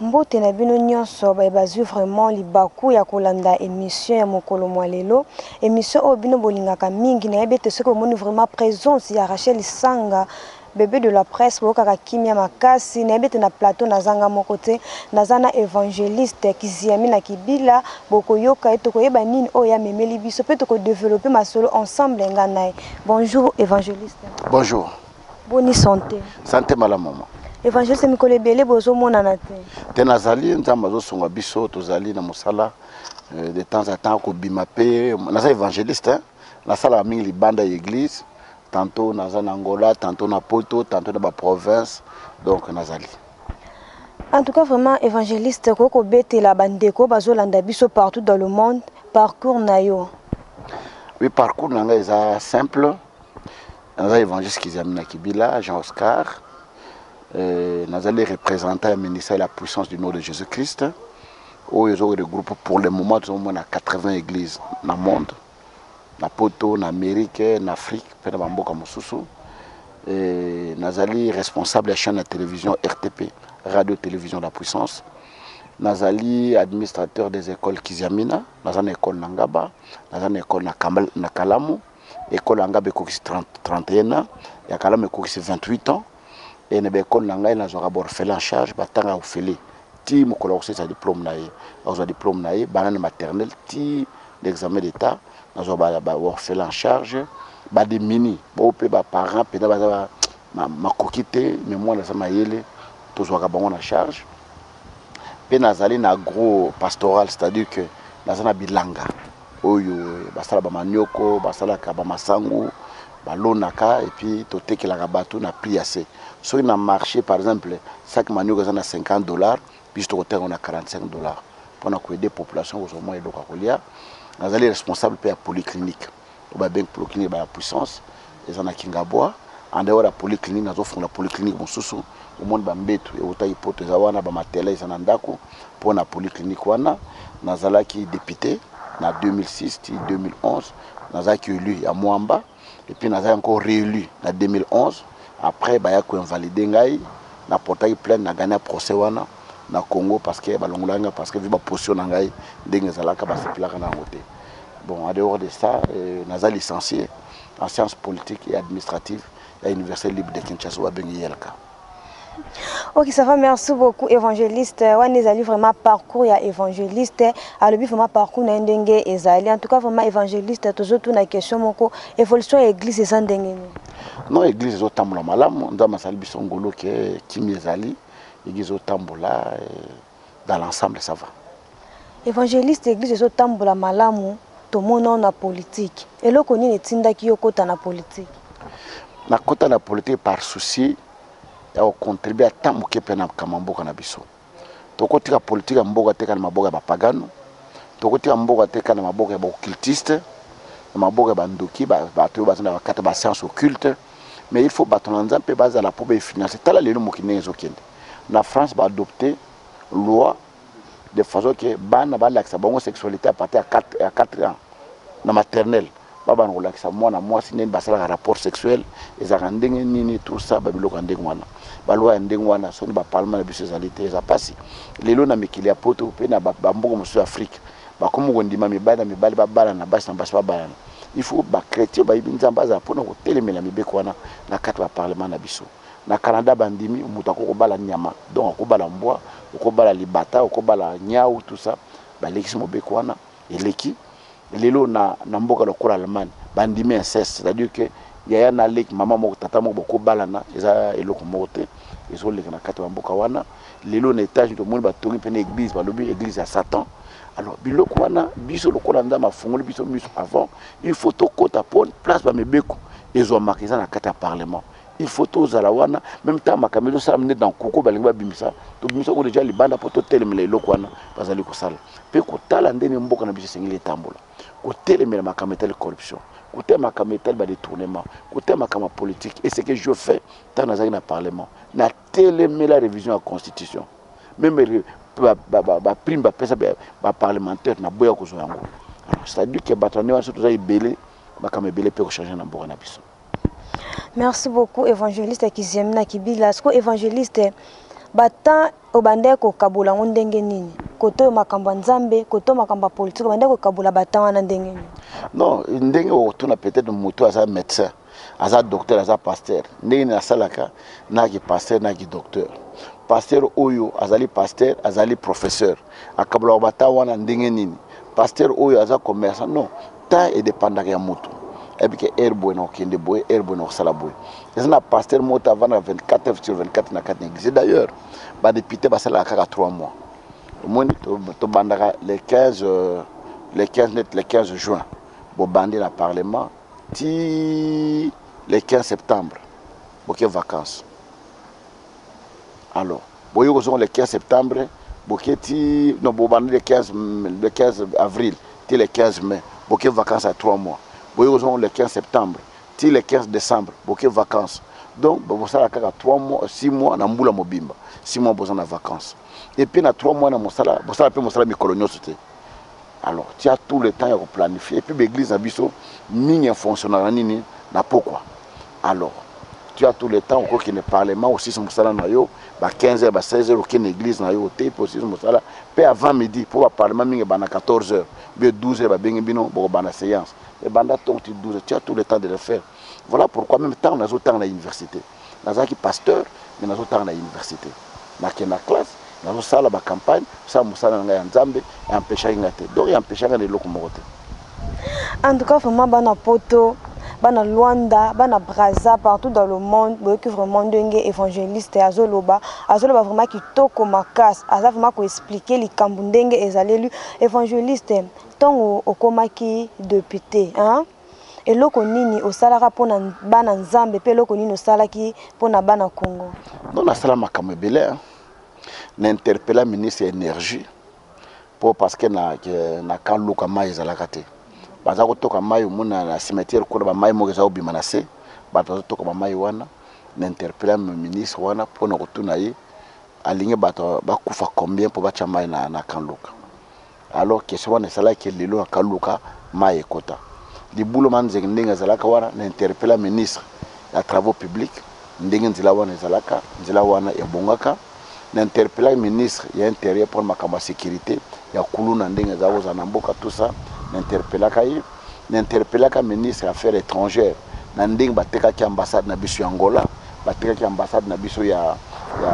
Mbote na bino nionso baye bazui vraiment libaku ya kolanda emission ya mokolo mua lelo. Emission oyo bino bolingaka mingi, nayebi ete soki bomoni vraiment presence ya Rachel Sanga, bebe de la presse boyokaka kimia makasi. Nayebi ete na plateau naza nga moko te, naza na Evangeliste Kiziami na Kibila, bokoyoka ye tokoyeba nini oyo ye amemeli biso mpe toko developper masolo ensemble nga na ye. Bonjour Evangeliste. Bonjour. Boni sante? Sante malamu mama. Evangeliste mikolo ebele bozomonana te. Te nazali nzambe azosunga biso tozali na mosala euh, de temps à temps kobima mpe naza evangeliste hein? nasalaka mingi libanda ya église tantôt naza na Angola tantôt na Poto tantôt na ba province donc nazali En tout cas, vraiment, évangéliste, koko betela bandeko, bazolanda biso partout dans le monde, parcours na yo. Oui, parcours na nga eza simple. naza évangiste kizami na kibila jean oscar euh, nazali représentant ya ministère ya la puissance du nom de jésus christ oyo ezo regroupe pour le moment tozomona 80 église na monde na poto na amérique na afrique mpe na bamboka mosusu euh, nazali responsable ya chaîne ya télévision rtp radio télévision la puissance nazali administrateur des écoles kiziamina naza na école na ngaba naza na école na kalamu Ecole ya ngabe ekokisi 31 ans, ya Kalama ekokisi 28 ans et na ba ecole na ngai nazwaka ba orphelins en charge batanga ofele ti mokolo ya kosilisa diplome na ye. Akozwa diplome na ye banda na maternelle ti na examen d'etat nazwa ba, ba orphelins en charge ba demini bo pe ba parents pena baza ba, ma, makoki te mais mwana aza mayele tozwaka bango na charge pe nazali na agro pastoral c'est-à-dire que naza na bilanga oyo basala ba manioko basalaka ba masangu balonaka epuis totekelaka bato na prix ya se soki na marche par exemple sac manioko eza na 50 dollars biso tokoteka yango na 45 dollars mpo na koede population kozwa mwa eloko ya kolia nazali responsable mpe ya polyclinique oyo babengi polyclinique ba ya puissance Eza na kingabwa en dehors ya polyclinique nazo fungola polyclinique mususu omoni ba mbetu ewutaki poto eza wana ba matelas eza na ndaku pona polyclinique wana nazalaki depute na 2006 ti 2011 nazalaki elu ya muamba et puis nazalaki encore reelu na 2011 après baya ko invalide ngai na portaki plainte na gagna procès wana na Congo parce que balongolaki ngai parce que vu ba position na ngai ndenge ezalaka basepelaka na yango te bon en dehors de ça euh, naza licencier en sciences politiques et administratives ya Université libre de Kinshasa oyo babengi IELCA. Ok, ça va, merci beaucoup, évangéliste. Wana ezali vraiment parcours ya évangéliste. Alobi vraiment parcours na ndenge ezali. En tout cas, vraiment évangéliste, tozo tuna question moko, évolution ya église eza ndenge nini? Non, église ezo tambola malamu, nzambe asali biso ngolu ke kimi ezali, église ezo tambola. Eh. dans l'ensemble ça va. Evangeliste eglise ezo tambola malamu tomona yo na politique eloko nini etindaki yo kota na politique? Na kota na politique par souci ya ko contribuer ata moke mpe na makambo ya mboka na biso. Tokotika politique ya mboka te kaka na maboko ya bapagano, tokotika mboka te kaka na maboko ya ba occultiste, na maboko ya bandoki bato oyo baza na bakata ba science occulte, mais il faut bato na Nzambe mpe bazala mpo ba financer. Tala lelo mokili ndenge ezokende. na France ba adopte loi de façon que bana balakisa bango sexualité à partir ya 4 ans na maternelle babana kolakisa mwana mwasi ndenge basalaka rapport sexuel ezalaka ndenge nini tout ça babiloko ya ndenge wana balwa ya ndenge wana soki bapalma na biso ezali te eza mpasi lelo na mikili ya poto mpe na bamboka mosusu ya afrike bakomi kondima mibali na mibali babalana basi na basi babalana il faut bachrétien bayebi nzambe azala mpona kotelemela mibeko wana na kati ya baparlement na biso Na Canada ba ndimi mutu akoki ko bala nyama donc oko bala mbwa, oko bala libata, oko bala niawu tout ça ba lekisi mobeko wana eleki. Lelo na na mboka lokola Allemagne ba ndimi inceste c'est à dire que yaya na leki, maman moko, tata moko boko balana eza eloko moko te ezo leka na kati ya ba mboka wana. Lelo na Etats-Unis to moni ba tongi pena eglise ba lobi eglise ya satan. Alors biloko wana biso lokola nzambe a fungoli biso misu avant il faut to kota po place ba mibeko ezwamaka eza na kati ya parlement. il faut tozala wana meme ntango makambo ezosalama nde na nkuku balingi babimisa tobimisa yango deja libanda mpo totelemela eloko wana bazali kosala mpe kotala ndenge mboka na biso esengeli etambola kotelemela makambo etali corruption kotala makambo etali badetournement kotala makambo ya politique et ce que je fais ntango nazalaki na parlement natelemela révision ya constitution meme baprime bapesa baparlementaire naboya kozwa yango c'est-à-dire ke bato ya ndenge wana so toza ebele makambo ebele mpe kochange na mboka na biso Merci beaucoup evangeliste Kiziemi na Kibila. Siko evangeliste ba temps obandaki kokabola yango ndenge nini? Koto oyo makambo ya Nzambe, koto makambo ya politiki obandaki kokabola ba temps wana ndenge nini? Non, ndenge okotuna peut-être moto aza médecin, aza docteur, aza pasteur. Ndenge nini asalaka na ki pasteur na ki docteur. Pasteur oyo azali pasteur, azali professeur. Akabolaka ba temps wana ndenge nini? Pasteur oyo aza commerçant, non. temps e dependaka ya mutu ayebi ke heure boye na kokende boye heure boye na kosala boye eza na pasteur moko te avandaka 24 heures sur 24 na kati na eglise d'ailleurs ba député basalaka kaka 3 mois omoni tobandaka le 15 euh, le 15 net le 15 juin bobandi na parlement ti le 15 septembre boke vacances alors Boye kozonga le 15 septembre boke ti non bobanda le 15 le 15 avril ti le 15 mai boke vacances ya 3 mois boye kozonga le 15 septembre ti le 15 decembre boke vacances donc bosala kaka 3 mois 6 mois na mbula mobimba 6 mois boza na vacances et puis na 3 mois na mosala bosala pe mosala mikolo nyoso te alors tu as tout le temps ya ko planifier et puis ba église na biso mingi en fonctionnaka nini na pokwa alors tu as tout le temps okoki ne parlement osisi mosala na yo ba 15 heures ba 16 heures oki na église na yo te mpo osisi mosala mpe avant midi mpo ba parlement mingi ebanda 14 heures bio 12 heures babengi bino bokobanda séance ebanda tongo ti 12 heures tu as tout le temps de le faire voilà pourquoi même ntango nazotanga na université nazalaki pasteur mais nazotanga na université nake na classe nazo sala ba campagne sala musala na ngai ya nzambe e empechaki ngai te donc e empechaki ngai na eloko moko te en tout cas vraiment bana poto bana Luanda, bana Brazza, partout dans le monde, boyoki vraiment ndenge évangéliste azoloba, azoloba vraiment kitoko makas, aza vraiment ko expliquer likambu ndenge ezaleli évangéliste tango okomaki député, hein? Eloko nini osalaka mpo na bana Nzambe mpe eloko nini osalaki mpo na bana Congo? Non, nasala makambo ebele hein. Na interpella ministre ya energie mpo parce que na, na camp Luka mai ezalaka te. Baza kotoka mai omona na cimetière kuna ba mai moko eza kobima na se, bato bazotoka ba mai wana. Na interpella ministre wana mpo na kotuna ye alingi bato bakufa combien mpo batya mai na, na camp Luka. Alors question wana esalaki que lelo na kaluka mayi ekota. Libula ma nzengi ndenge ezalaka wana na interpella ministre ya travaux publics ndenge nzela wana ezalaka, nzela wana ebongaka. Na interpellaki ministre ya interieur pona makambo ya securite ya kuluna ndenge ezalaka kozala na mboka tout ça na interpellaka ye. na interpellaka ministre ya affaires etrangères na ndenge batekaki ambassade na biso ya Angola, batekaki ambassade na biso ya, ya,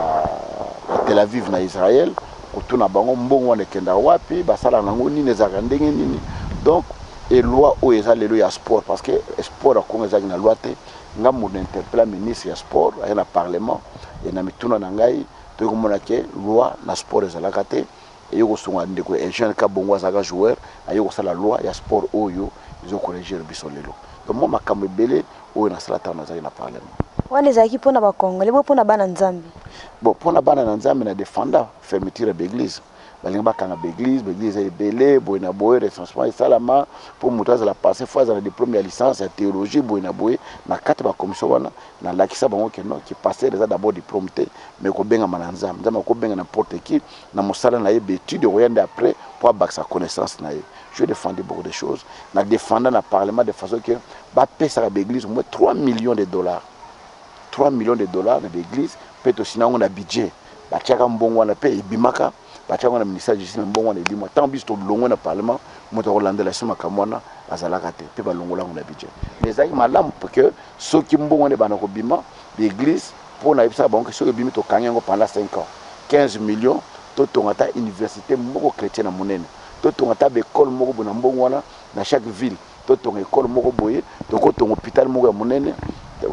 ya Tel Aviv na Israël, kotuna bango mbongo wana ekendaka wapi, basalaka nango nini, ezalaka ndenge nini. Donc et loi oyo eza lelo ya sport parce que sport ya Congo ezalaki na loi te. Nga mutu na interpella ministre ya sport aye na parlement et na mituna na ngai toye komona ke loi na sport ezalaka te. Eyo kosunga ndeko Eugene Kabongo azalaka joueur aye kosala loi ya sport oyo ezo corregir biso lelo donc mwa makambo ebele oyo nasala tango nazalaki na parlement. Wana ezalaki mpo na ba congolais bo mpo na bana nzambe? Bon mpo na bana na nzambe na defanda fermeture ya ba eglise balingi bakanga ba eglise ba eglise eza ebele boye na boye recensement esalama mpo moto azala passe fo azala na diplome ya licence ya theologie boye na boye na kati ba commission wana na lakisa bango ke non ki pasteur eza d'abord diplome te mais kobengama na nzambe nzambe akobenga na porte ki na mosala na ye betude okoya nde après po abakisa connaissance na ye je defendu beaucoup de choses na defenda na parlement de façon que bapesaka baeglise moins 3 millions de dollars 3 millions de dollars na baeglise mpe tosina yango na budget batiaka mbongo wana mpe ebimaka batiaka yango na ministère justice na mbongo wana ebima ntango biso tolongwe na parlement moto akolandela biso makambo wana azalaka te mpe balongola yango na budget mais ezalaki malamu que soki mbongo wana ebanda kobima baeglise Po na yebisaka bango que soki ebimi tokangi yango pendant cinq ans 15 millions totonga ata universite moko chretienne ya munene totonga ata ba ecole moko boye na mbongo wana na chaque ville totonga ecole moko boye tokotonga hopital moko ya munene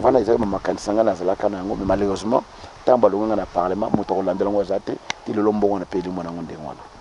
wana ezalaki ba makanisi na ngai nazalaka na yango mais malheureusement tango balongue ngai na parlement mutu akolandela yango aza te ti lelo mbongo wana pe elimo na yango ndenge wana.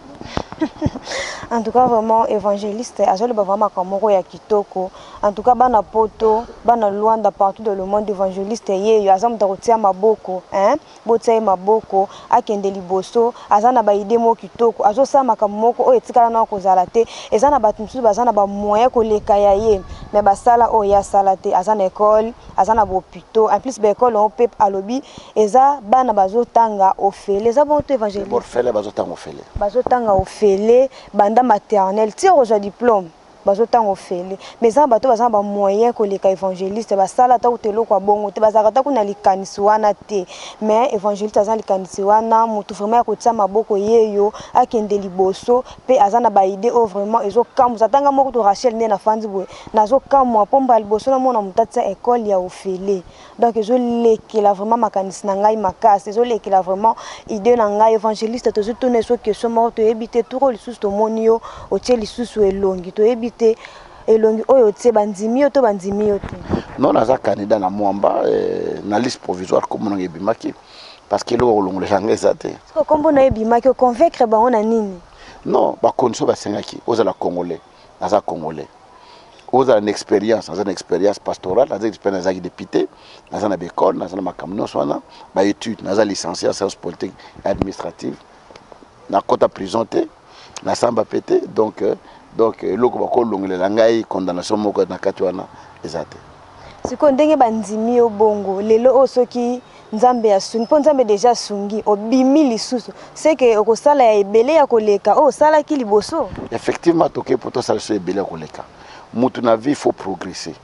en tout cas vraiment évangéliste azoloba vraiment makambo moko ya kitoko en tout cas bana poto bana luanda partout dans le monde évangéliste yeyo aza moto akotia maboko hein? botia ye maboko akende liboso aza na baide moko kitoko azosala makambo moko oyo etikala nao kozala te eza na bato mosusu baza na bamoyen koleka ya ye me basala oyo ye asala te aza na ekole aza na bopito en plus ba école yango pe alobi eza bana bazotanga ofele eza bongo to évangéliste borfele bazotanga ofele bazotanga ofele banda maternelle ti okozwa diplôme bazotanga ofele mais eza na bato baza na bamoyen koleka évangéliste basala ata kuta eloko ya bongo te bazalaka ata kuna likanisi wana te mais évangéliste aza na likanisi wana motu vraiment ya kotia maboko yeyo akende liboso mpe aza na baide oyo vraiment ezokambusa tanga moko to rachel nde na fandi boye Nazo kamwa po mbala liboso na mona mutu atia ecole ya ofele donc ezo lekela vraiment makanisi na ngai makasi ezo lekela vraiment idee na ngai evangeliste tozo tuna esso question moko toyebi te tour oyo lisusu tomoni yo otie lisusu elongi toyebi te elongi oyo otie ba ndimi yo to ba ndimi yo te non naza candidat na mwamba eh, na liste provisoire kombo nanga ebimaki parce que eloko kolongolesa nga eza te siko kombo na yo ebimaki oconvaincre bango na nini non bacondition basengaki ozala congolais naza congolais ozala na experience naza na experience pastorale naza experience nazalaki député naza na baekole naza na makambo nyonso wana baétude naza licencie ya science politique administrative nakota prison te nasamba mpe te donc euh, donc eloko bakolongelela ngai condamnation moko na kati wana eza te Sikoyo ndenge ba ndimi yo bongo lelo oyo soki nzambe asungi po nzambe deja asungi obimi lisusu ce que okosala ya ebele ya koleka oyo osalaki liboso? Effectivement toke po tosala lisusu ebele ya koleka mutu na vie faut progresser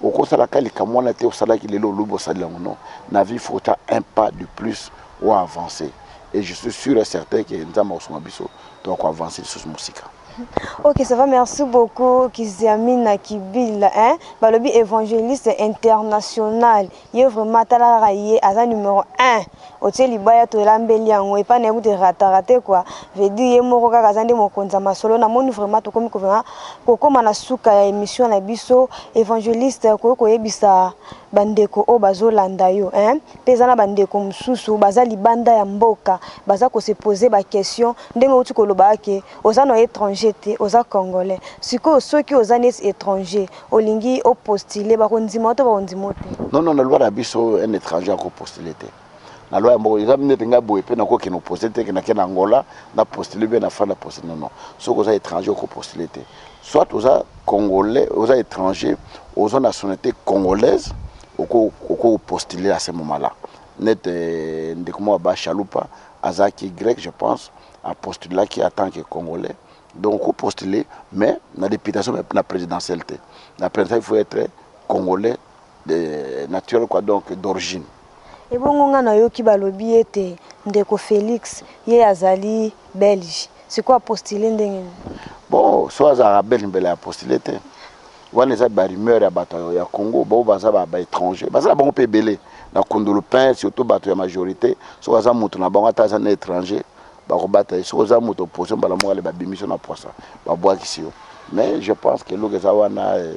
okosala ka likambo wana te osalaki lelo olobi osali yango non na vie faut otia un pas de plus o avancer et je suis sur et certain que nzambe akosunga biso toko avancer lisusu musika. Ok ça va merci beaucoup kiziamina kibil hein balobi evangeliste international ye vraiment tala kaka ye aza numero 1 otie libaya tolambeli yango epa na ye kutu erata rate quoi veut dire ye moko kaka aza nde mokonzi ya masolo namoni vraiment tokomi kokoma na suka ya emission na biso evangeliste okoki koyebisa ba ndeko oyo bazo landa yo hein pe eza na ba ndeko mususu baza libanda ya mboka baza ko se poser ba question ndenge owuti ko loba ke oza na etranger te oza congolais sikoyo soki oza neti etranger olingi o postuler bako ndima yo to bako ndima yo te? Non non na loi na biso un etranger ako postuler te. na loi ya mboka eza nete ngai boye mpe nakoki kende opose te kende akende angola na postule mpe na fandi ya postule nono soki oza étranger oko postule te soit oza congolais oza étranger oza nationalité congolaise oko postule à ce moment là nete euh, ndeko moko ba chalupa azalaki grec je pense apostulaki en tant que congolais donc oko postule mais na députation na présidentielle te na présidentielle il faut être congolais de naturel quoi donc d'origine Ebongo nga nayoki balobi ete ndeko Felix ye azali belge sikoyo a postuler ndenge nini? Bon soki azalaka belge mbele a postuler te wana eza ba rumeur ya bato ya Congo ba oyo baza ba etranger baza na bango pe ebele na kundulupin surtout bato ya majorite soki aza mutu na bango ata aza na etranger bakobata ye soki oza mutu opposition mbala moko ale babimisi yo na pwasa babwakisi yo mais je pense que eloko eza wana eh,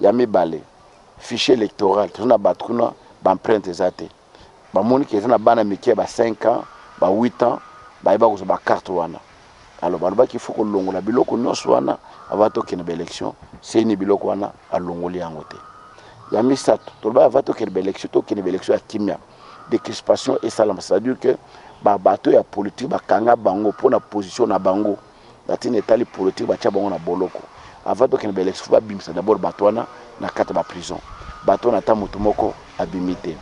Ya mibale, fichier electoral, toza na batu kuna ba empreintes eza te. Bamoni que eza na bana mike ya ba cinq ans, ba huit ans, baye bakozwa ba cartes wana. Alors balobaki il faut kolongola biloko nionso wana avant tokende ba elections. Ceni biloko wana alongoli yango te. Ya misatu, tolobaki avant tokende ba elections, tokende ba elections ya kimia, decrispation esalama, c'est-à-dire que ba bateaux ya politique bakanga bango pona position na bango. na tina etali politique batia bango na boloko avant tokende ba election faut babimisa d'abord bato wana na kati ya ba prison bato wana ata moto moko abimi te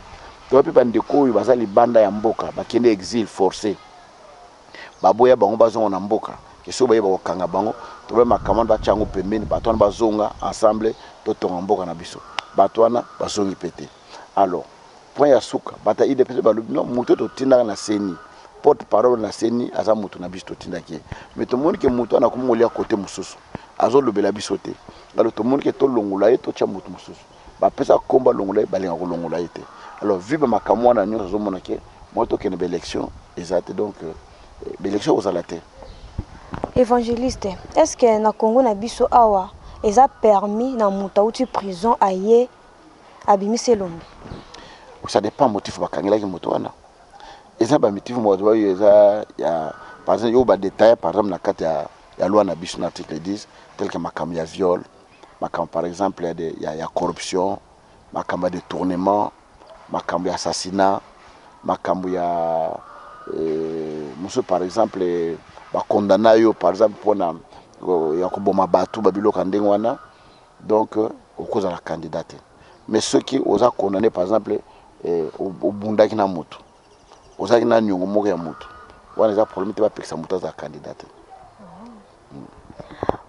toya pe bandeko oyo baza libanda ya mboka bakende exil force baboya bango bazonga na mboka esoki baye bakokanga bango tobe makambo wana batia yango pembeni bato wana bazonga ensemble totonga mboka na biso bato wana bazongi pe te alors point ya suka bata udps pe balobi non mutu oyo totindaka na ceni porte parole na ceni aza mutu na biso totindaki ye mais tomoni ke mutu wana akomi kolia kote mosusu azolobela biso te alors tomoni ke tolongola ye totya mutu mosusu bapesa kombo alongola ye balinga kolongola ye te alors vu bamakambo wana nyonso azomona ke moi tokende baélection eza te donc euh, baélection ekozala te évangéliste est ce que na congo na biso awa eza permis na moto auti prison aye abimisi elongi ça dépend motif bakangelaki moto wana eza bamitifu moto bayo eza ya par exemple yo badetaille par exemple na kati ya, ya loi na biso na article 10 tel que makambo ya viol makambo par exemple ya, de, ya, ya corruption makambo ya détournement makambo ya assassinat makambo ya euh, mosusu par exemple bakondana yo par exemple mpona euh, ya koboma bato babiloko ya ndenge wana Donc okozala candidat te mais soki oza condamne par exemple eh, obundaki na moto ozalaki na niongo moko ya moto wana eza problème te bapekisa moto azala candidat te mm.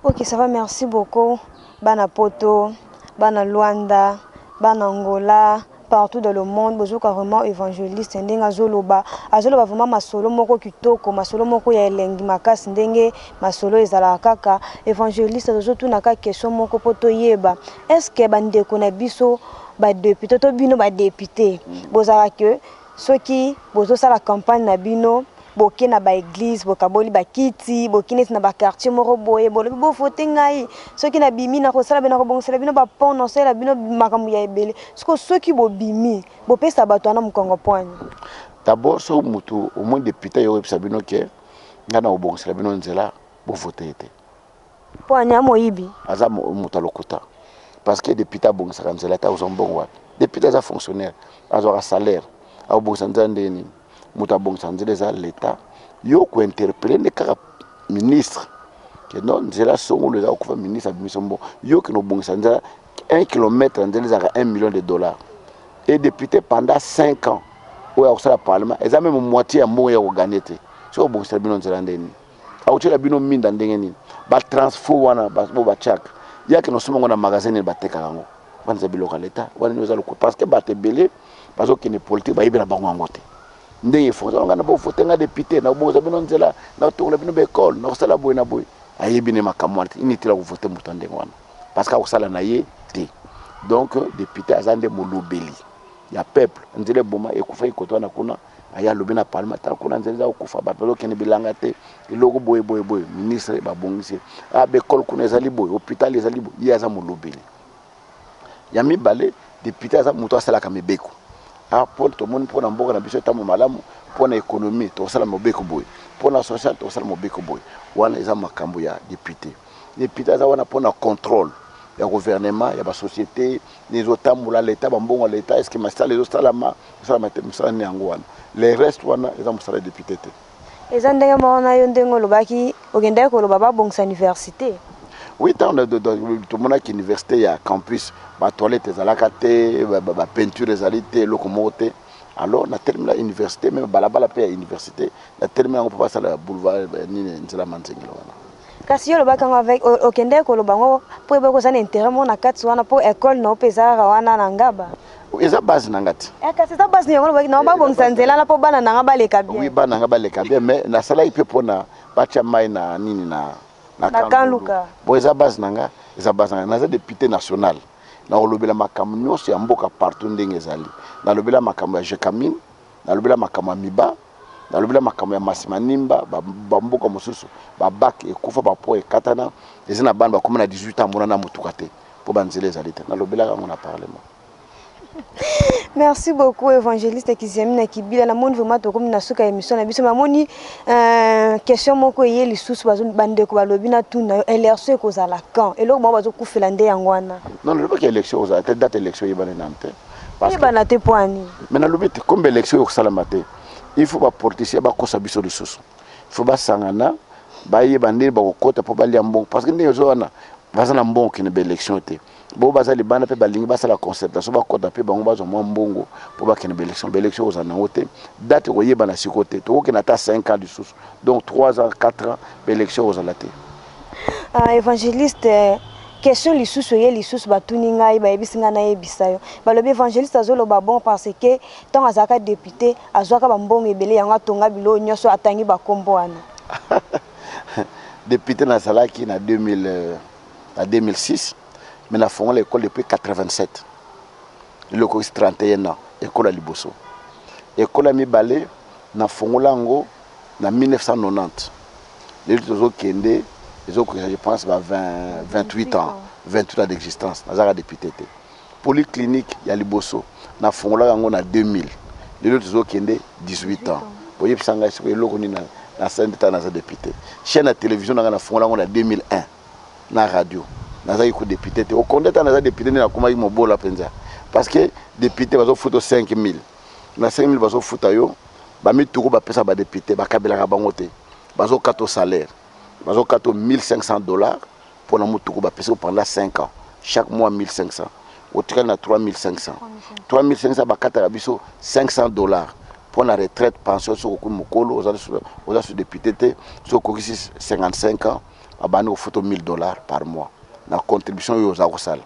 ok ça va merci beaucoup bana poto bana luanda bana angola partout dans le monde bozoka vraiment evangeliste ndenge azoloba azoloba vraiment masolo moko kitoko masolo moko ya elengi makasi ndenge masolo ezalaka kaka evangeliste tozotuna kaka question moko mpo toyeba est ce que bandeko na biso badepute to bino badepute bozalaka soki bozosala campagne na bino boke na ba eglise bokaboli ba kiti boki neti na ba quartier moko boye bolobi bo vote ngai soki na bimi na kosala bino na kobongisela bino ba pont na salela bino makambo ya ebele siko soki bobimi bopesa bato wana mokongo poani d'abord so mutu omoni depute yo oyebisa bino ke ngai na kobongisela bino nzela bo vote ete poani ya moyibi aza moto alokuta parce que depute abongisaka nzela te akozwa mbongo wapi depute aza fonctionnaire azwaka salaire akobongisa nzela ndenge nini mutu abongisa nzela eza l'etat yo ko interpeller nde kaka ministre que non nzela songolo eza kokufa ministre abimisa mbo yo kino obongisa nzela 1 kilomètre ya nzela ezalaka 1 million de dollars et député pendant 5 ans oyo akosala parlement eza meme moitié ya mbongo ya koganye te soki obongisela bino nzela ndeni akotyela bino minda ndenge nini batransfo wana bo batyaka yake nosomba yango na magasin nini batekaka yango wana eza biloko ya leta wana nini eza loko parce que bato ebele bazokende politike bayebi na bango yango te ndenge efonzaka ngai na bovote ngai depute nakobongisa bino nzela nakotongola bino baekole nakosala boye na boye ayebi ne makambo wana te inutile akovote moto ya ndenge wana parce que akosala na ye te donc depute aza nde molobeli ya peuple nzela eboma ekufa ekoto wana kuna aye alobi na parlement ata kuna nzela eza kokufa bato bazokende bilanga te eloko boye boye boye ministre babongisi ye ah, bekole kuna ezali boye hôpital ezali boye ye aza molobeli ya mibale depute aza moto asalaka mibeko ah, mpo tomoni mpo na mboka na biso etambo malamu mpo na économie tokosala mobeko boye mpo na social tokosala mobeko boye wana eza makambo ya depute depute aza wana mpo na contrôle ya gouvernement ya basociété nini ezotambola leta bambongo ya leta eske masala ezosalama esalama te mosala nini yango wana le reste wana eza mosala ya depute te eza ndenge moko na yo ndenge olobaki okendaki koloba babongisa université oui ntango tomonaki université ya campus batoilette ezalaka te bapeinture ezali te eloko moko te alors natelemi na université meme balabala mpe ya université natelemi yango mpo basala boulevard eh, nini nzela manzengela wana Kasi yo olobaki yango avec okendeki koloba yango po oyebaki oza na interet moko na kati wana po ecole na yo pe eza kaka wana na Ngaba. Eza base na nga te. Eh, kasi eza base na yango olobaki na yo babongisa nzela na po bana na nga baleka bien. Oui, bana na nga baleka bien mais nasalaki pe pona batia mai na nini na na Kanluka. Bon eza base na nga, eza base na nga. Naza depute national. Nakolobela makambo nyonso ya mboka partout ndenge ezali. Nalobela makambo ya Jecamine, nalobela makambo ya Miba. nalobi na makambo ya masi manimba bamboka mosusu babak ekufa bapo ekatana eza na bana bakoma na 18 ans monana motuka te mpo banzela ezali te nalobelaka yango na parlement merci beaucoup évangéliste kiziamina kibila namoni vraiment tokomi na suka ya émission na biso namoni euh, question moko eye lisusu bandeko balobi na tuna yo élection ekozala quand eloko bango bazokufela nde yango wana non nalobaki élection ekozala te date élection eyebani nanu te Parce que bana te poani. Mais na lobi te comme élection yo sala matin. Il faut ba politiciens ba kosa biso de soso. Il faut ba sangana ba ye bande ba kokota po ba lia mbongo parce que ndenge zo wana baza na mbongo kende ba élection te. Bo baza libanda pe balingi ba sala concertation ba kota pe bango bazo mwa mbongo po ba kende ba élection. Ba élection oza na ngote. Date ko yeba na siko te. Toko kende ata 5 ans de soso. donc 3 ans 4 ans ba election ekozala te uh, evangeliste question lisusu eye lisusu batuni ngai bayebisi ngai nayebisa yo balobi évangéliste azoloba bon parce que ntango azalaka député azwaka bambongo ebele yango atonga biloo nyonso atangi bakombo wana député nazalaki na 2000 euh, na 2006 mais nafongola ekole depuis 87 Lokokisi 31 ans ekola liboso ekola mibale na fongola yango na 1990 lelo tozo kende ezo kokisa je pense ba 20 28 ans 28 ans d'existence nazaka député te polyclinique ya liboso na fongola yango na 2000 lelo tozo kende 18 ans boyebisa ngai siko eloko nini na na sende ta naza député chaîne ya télévision na ngai na fongola yango na 2001 na radio nazaki ku depute te okonde ata naza depute nde nakomaki mobola mpenza parce que depute bazofuta 5000 na 5000 bazofuta yo bamituku bapesa badepute bakabelaka bango te bazokata salaire bazokata 1500 dollars mpo na motuku bapesi pendant 5 ans chaque mois 1500 otikali na 3500 3500 bakataka biso 500 dollars mpo na retraite pension soki okui mokolo oza su depute te soki okokisi 55 ans abandi kofuta 1000 dollars par mois na contribution oyo oza kosala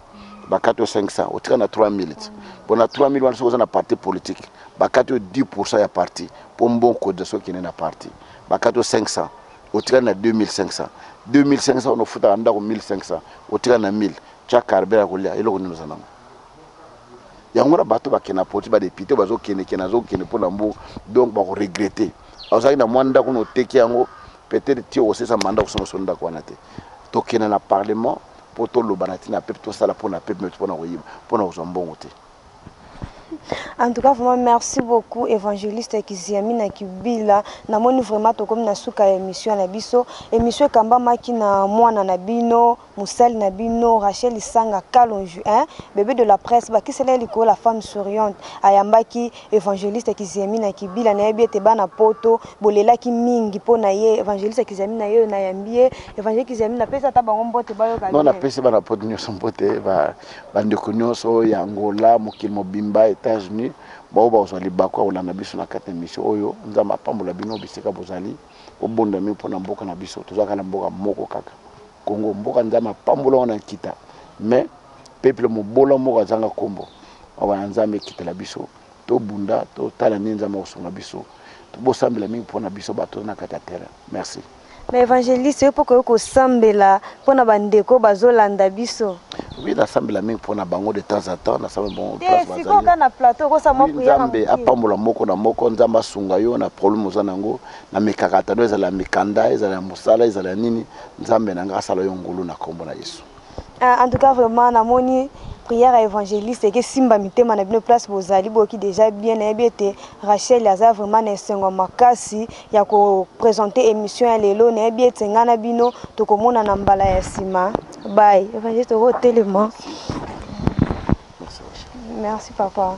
bakati yo 500 otika na 3000 ti mpo na 3000 wana soki oza na parti politique bakati yo 10 pourcent ya parti mpo mbongo cotisation okende na parti bakati yo 500 otikali na 2500 2500 wana ofutaka ndako 1500 otikali na 1000 tya carbere ya kolia eloko nini oza nango yango na bato bakende na politi badepute bazokendekende azokende mpo na mbu donc bakoregrete ozalaki na mwa ndako na oteki yango Peut-etre ti okosesa mandat okosunga biso ndako wana te. Tokende na parlement mpo toloba na ntina ya peuple, tosala mpo na peuple, mais mpo na koyiba, mpo na kozwa mbongo te. En tout cas vraiment merci beaucoup evangeliste Kiziami na Kibila na moni vraiment tokomi na suka ya emission na biso emission ekambamaki na mwana na bino Mosali na bino Rachel Lisanga Kalonji eh, bebe de la presse, bakisela ye likolo la femme souriante. Ayambaki Evangeliste Kiziamina Kibila, nayebi ete bana poto bolelaki mingi mpo na ye. Evangeliste Kiziamina yeyo nayambi ye. Evangelique Kiziamina pesa ata bango mbote bayoka bien. Non napesi bana poto nionso mbote, ba ba ndeko nionso ya Angola, mokili mobimba, Etats-Unis, baoyo bakozwa libaku ya kolanda biso na kati na emission oyo. Nzambe apambola bino bisika bozali. Bo bonda mieux pona mboka na biso toza kaka na mboka moko kaka Congo mboka nzambe apambola ngo na nkita mais peuple mobola moko azanga kombo mawa na nzambe ekitela biso to bunda to tala nini nzambe akosunga biso bo sambela mingi pona biso bato na kati ya terrain merci mais evangeliste yo poko yo kosambela Pona ba ndeko oyo bazo landa biso. Oui na sambela mingi pona bango de temps à temps na sambela bango place bazali. Te sikoyo ka na plateau ko sa mwa prière. Nzambe apambola moko na moko nzambe asunga yo na problème oza nango na mikakatano ezala mikanda ezala musala ezala nini nzambe na nga asala yo ngulu na kombo na Yesu. Ah, en tout cas vraiment na moni prière ya évangéliste ekesimba mitema na bino place bozali boyoki déjà bien nayebi ete rachel aza vraiment na esengo makasi ya ko presenter emission ya lelo nayebi ete ngai na bino tokomonana mbala ya nsima bai evangeliste tokotelema merci papa